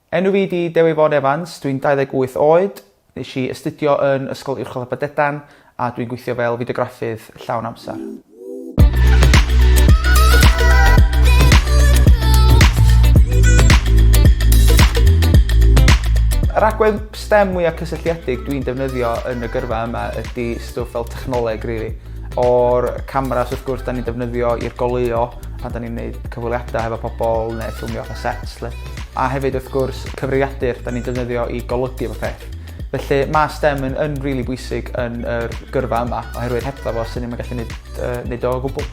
Enw fi 'di Dewi Vaughan Evans, dwi'n 28 oed, nes i astudio yn Ysgol Uwchradd Aberdedan a dwi'n gweithio fel fideograffydd llawn amser. Yr agwedd stem mwya' cysylltiedig dwi'n defnyddio yn y gyrfa yma ydi stwff fel technoleg rili. O'r cameras wrth gwrs 'dan ni'n defnyddio i'r goleuo pan 'dan ni'n neud cyfweliada hefo pobol ne' ffilmio fatha sets 'lly. A hefyd wrth gwrs cyfrifiadur 'dan ni'n defnyddio i golygu popeth. Felly ma' stem yn yn rili bwysig yn yr gyrfa yma oherwydd hebddo fo swn ni'm yn gallu neud yy neud o o gwbwl.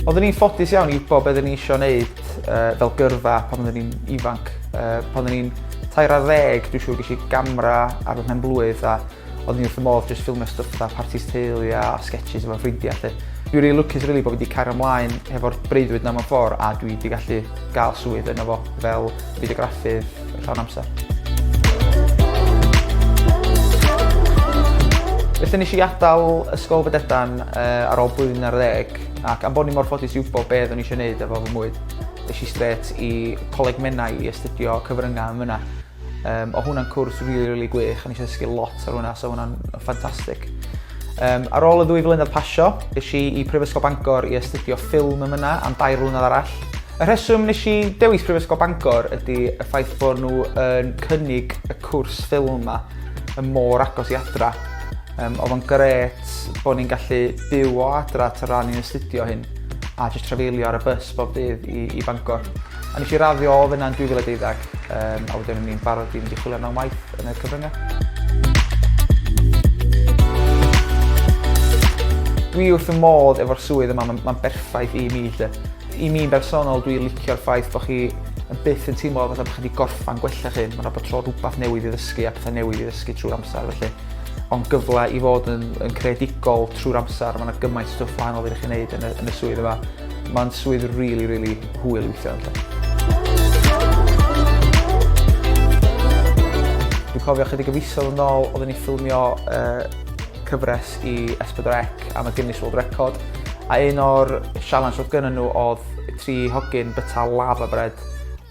Oeddwn i'n ffodus iawn i wbo be' oeddwn i isio neud yy fel gyrfa pan oeddwn i'n ifanc yy pan o'n i'n tair ar ddeg dwi siŵr gesh i gamra ar fy mhen-blwydd a Odd ni wrth fy modd jyst ffilmio stwff fatha partis teulu a sketches efo ffrindia 'lly. Dwi rili lwcus rili bo fi 'di cario mlaen hefo'r breuddwyd 'na mewn ffor a dwi 'di gallu ga'l swydd yno fo fel fideograffydd llawn amser. Felly nesh i adal Ysgol Fededan yy ar ôl blwyddyn ar ddeg ac am bo ni mor ffodus i wbo be' oeddwn i isio neud efo fy mywyd esh i strêt i Coleg Menai i astudio cyfrynga yn fynna. Um, o hwnna'n cwrs rili, really, rili really gwych, a nes i ddysgu lot ar hwnna, so hwnna'n ffantastig. Um, ar ôl y ddwy flynedd pasio, nes i i Prifysgol Bangor i astudio ffilm yn myna am dair flynedd arall. Y rheswm nes i dewis Prifysgol Bangor ydy y ffaith bod nhw yn cynnig y cwrs ffilm yma yn môr agos i adra. Um, oedd o'n gret bod ni'n gallu byw o adra tra ni'n astudio hyn a jyst trafeilio ar y bus bob dydd i, i Bangor. A nes i raddio o fyna yn 2012, um, a wedyn o'n i'n barod i fynd i chwilio am waith yn y cyfryngau. Dwi wrth y modd efo'r swydd yma, mae'n ma berffaith i mi. Lle. I mi'n bersonol, dwi'n licio'r ffaith bod chi yn byth yn teimlo fatha bod chi wedi gorffan gwella chi. Mae'n rhaid bod tro rhywbeth newydd i ddysgu a pethau newydd i ddysgu trwy'r amser. Felly, ond gyfle i fod yn, yn creadigol trwy'r amser. Mae yna gymaint o stwff wahanol i chi wneud yn y, yn y swydd yma. Mae'n swydd rili rili hwyl weithio ynddo. Dwi'n cofio chydig o fisoedd yn ôl oedden ni ffilmio uh, cyfres i S4C am y Guinness World Record a un o'r sialens oedd gynnyn nhw oedd tri hogyn byta lava bread.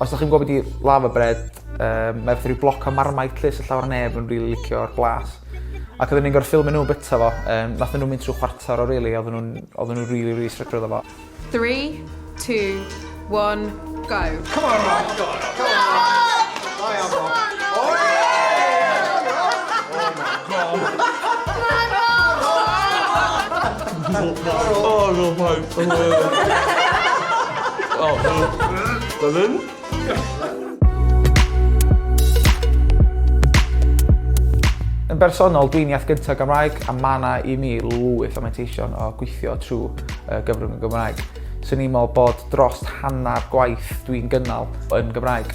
Os ydych chi'n gwybod beth i lava bread, um, mae rhyw bloc o marmite lle sy'n llawer neb yn rili really licio'r blas. Ac odden ni'n gor'o' ffilmio n'w bita fo yym nathon n'w mynd trw' chwarter o rili odden nw'n odden n'w rili rili stryglo 'da fo. Three two one go. Come on Rob go on Rob. Da iawn Rob. Oce. Yn bersonol, dwi'n iaith gyntaf Gymraeg a mae yna i mi lwyth o manteision o gweithio trwy uh, gyfrwng y Gymraeg. Swn i'n meddwl bod dros hanner gwaith dwi'n gynnal yn Gymraeg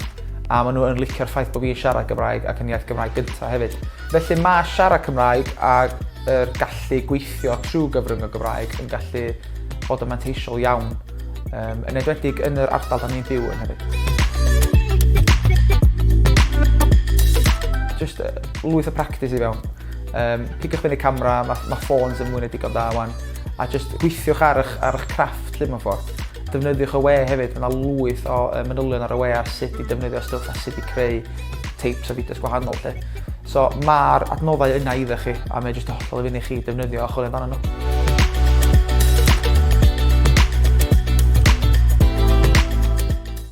a maen nhw'n licio'r ffaith bod fi'n siarad Gymraeg ac yn iaith Gymraeg gyntaf hefyd. Felly mae siarad Cymraeg a'r er gallu gweithio trwy gyfrwng y Gymraeg yn gallu bod yn manteisiol iawn. um, yn edwedig yn yr ardal da ni'n byw yn hefyd. Just uh, lwyth o practis i fewn. Um, pigiwch fyny camera, mae ma ffôns yn mwyn edigon da wan, a just gweithiwch ar eich, ar eich crafft lle mewn ffordd. Defnyddiwch y we hefyd, mae yna lwyth o um, manylion ar y we ar sut i defnyddio stwff a sut i creu tapes a fideos gwahanol lle. So ma'r adnoddau yna iddo chi a mae jyst yn hollol i fyny chi defnyddio a chwilio amdanyn nhw.